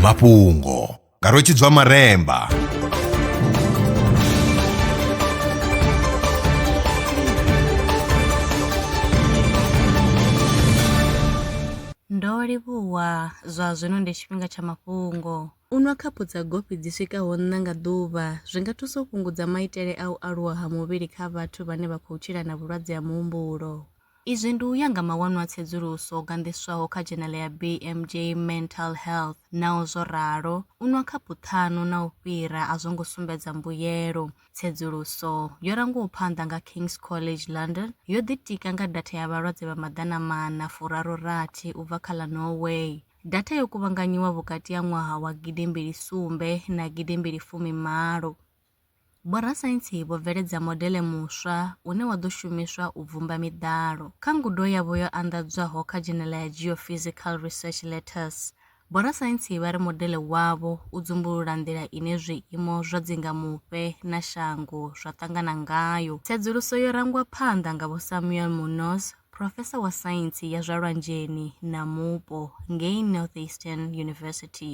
mafhungo nga rwetshidzwa maremba Ndo livhuwa zwa zwino ndi tshifhinga tsha mafhungo. U nwa khaphu dza gofi dzi swikaho nṋa nga ḓuvha zwi nga thusa u fhungudza maitele a u aluwa ha muvhili kha vhathu vhane vha khou tshila na vhulwadze ha muhumbulo. Izwi ndi u ya nga mawanwa a tsedzuluso o ganḓiswaho kha dzhenele ya BMJ Mental Health. Naho zwo ralo, u nwa khaphu ṱhanu na u fhira a zwo ngo sumbedza mbuyelo. Tsedzuluso, yo rangwaho phanḓa nga King's College London, yo ḓitika nga datha ya vhalwadze vha maḓana maṋa furaru rathi u bva kha ḽa Norway. Datha yo kuvhanganyiwa vhukati ha ṅwaha wa gidi mbili sumbe na gidi mbili fumi malo. Vhorasaintsi vho bveledza modele muswa une wa ḓo shumiswa u bvumba miḓalo. Kha ngudo yavho yo anḓadzwaho kha dzhenela ya Geophysical Research Letters, vhorasaintsi vha ri modele wavho u dzumbulula nḓila ine zwiimo zwa dzingamufhe na shango zwa ṱangana ngayo. Tsedzuluso yo rangwa phanḓa nga Vho Samuel Munoz, phrofesa wa saintsi ya zwa lwanzheni na mupo ngei Northeastern University.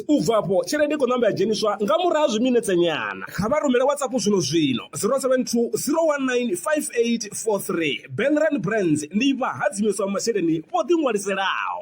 U bva afho, tshelede i khou ṋamba ya dzheniswa nga murahu ha zwiminetsenyana. Kha vha rumele WhatsApp zwino-zwino, 072 019 5843. Bank Rand Brands ndi vhahadzimiswa vha masheleni vho ḓiṅwaliselaho.